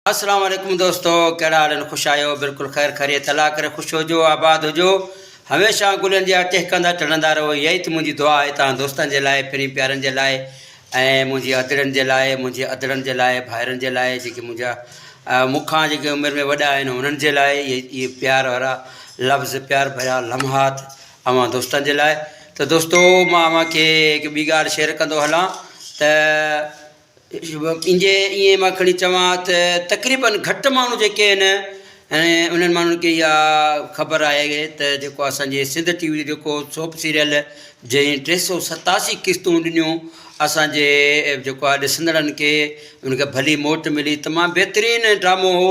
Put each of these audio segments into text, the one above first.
السلام عليڪم دوستو ڪهڙا حال آهن خوش آهيو بلڪل خير خيريت الله ڪري خوش هجو آباد هجو هميشه گلن جي ٽهڪندا ٽڙندا رهو اها ئي ته منهنجي دعا آهي توهان دوستن جي لاء پھرين پيارن جي لاء ۽ منهنجي ادڙن جي لاء منهنجي ادڙن جي لاء ڀائرن جي لاء جيڪي منهنجا مون کان جيڪي عمر ۾ وڏا آهن انهن جي لاء اهي پيار وارا لفظ پيار ڀريا لمحات اوهان دوستن جي لاء ته دوستو مان اوهان کي هڪ ٻي ڳالهه شيئر ڪندو هلان ته ان جي ائين مان کڻي چوان ته تقريبن گهٽ ماڻهو جيڪي آهن ۽ انهن ماڻهن کي اها خبر آهي ته جيڪو آهي اسانجي سنڌ ٽي وي جو جيڪو سوپ سيريل جنهن ٽي سو ستاسي قسطون ڏنيون اسانجي جيڪو آهي ڏسندڙن کي ان کي ڀلي موٽ ملي تمام بهترين ڊرامو هو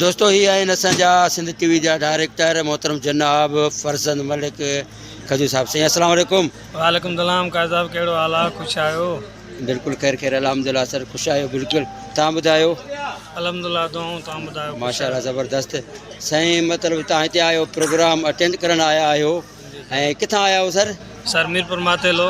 دوستو هي آهن اسان جا سنڌ ٽي وي جا ڊائريڪٽر محترم جناب فرزند ملڪ کجو صاحب سائين السلام عليڪم وعليڪم السلام قائد صاحب ڪهڙو حال آ خوش آهيو بلڪل خير خير الحمدلله سر خوش آهيو بلڪل تان ٻڌايو الحمدلله دعائون تان ٻڌايو ماشاءالله زبردست سائين مطلب تان هتي آيو پروگرام اٽينڊ ڪرڻ آيا آهيو ۽ ڪٿان آيا آهيو سر؟ سر ميرپور ماتيلو.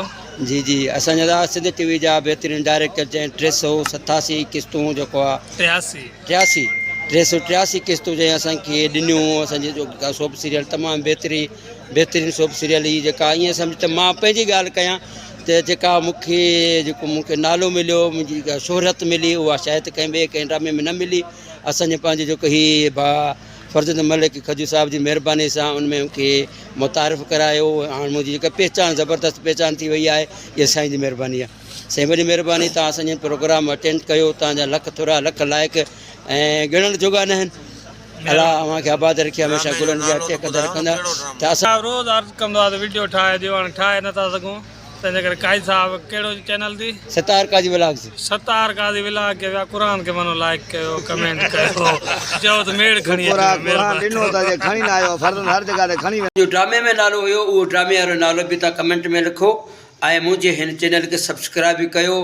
جي جي اسان جا ذرا سنڌ ٽي وي جا بهترين ڊائريڪٽر جنهن ٽي سو ستاسي قسطون جيڪو آ ٽياسي ٽياسي ٽي سو ٽياسي قسطون جنهن اسان کي ڏنيون اسان جي جو سوپ سيريل تمام بهتري بهترين سوپ سيريل هي جيڪا ائين سمجھ ته مان پنهنجي ڳالھ ڪيان ته جيڪا مون کي جيڪو مون کي نالو مليو منهنجي شهرت ملي اها شايد ڪنهن ٻئي ڪنهن ڊرامي ۾ نه ملي اسان جي پنهنجي جيڪو هي ڀا فرزند ملڪ کجو صاحب جي مهرباني سان ان ۾ کي متعارف ڪرايو هاڻ منهنجي جيڪا پهچان زبردست پهچان ٿي وئي آهي اها سائين جي مهرباني آهي سائين وڏي مهرباني تان اسان جي پروگرام اٽينڊ ڪيو تان جا لک ٿورا لک لائق ۽ ڳڻڻ جوڳا نه آهن الا اوهان کي آباد رکي هميشه گلن جا ٽيڪ رکندا ته اسان روز عرض ڪندو آهي ته وڊيو ٺاهي ڏيو هاڻي ٺاهي نٿا سگهون تنهنجي ڪري قائد صاحب ڪهڙو چينل تي. ستار قاضي ولاگز. ستار قاضي ولاگ کي ويا قرآن کي منو لائيڪ ڪيو ڪمينٽ ڪيو چئو ته ميڙ کڻي اچو مهرباني ڪري. ڏنو ته جي کڻي نه آيو فرزند هر جڳهه تي کڻي وڃي. جو ڊرامي ۾ نالو هيو اهو ڊرامي وارو نالو به تان ڪمينٽ ۾ لکو ۽ منهنجي هن چينل کي سبسڪرائب به ڪيو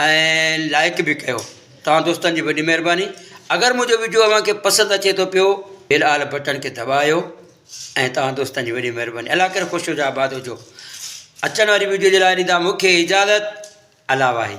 ۽ لائيڪ به ڪيو توهان دوستن جي وڏي مهرباني اگر منهنجو ويڊيو اوهان کي پسند اچي ٿو پيو بيل آل بٽڻ کي دٻايو ۽ توهان دوستن جي وڏي مهرباني الله ڪري خوش هجو آباد هجو اچڻ واري ويڊيو جي لاء ڏيندا مون کي اجازت الله واهي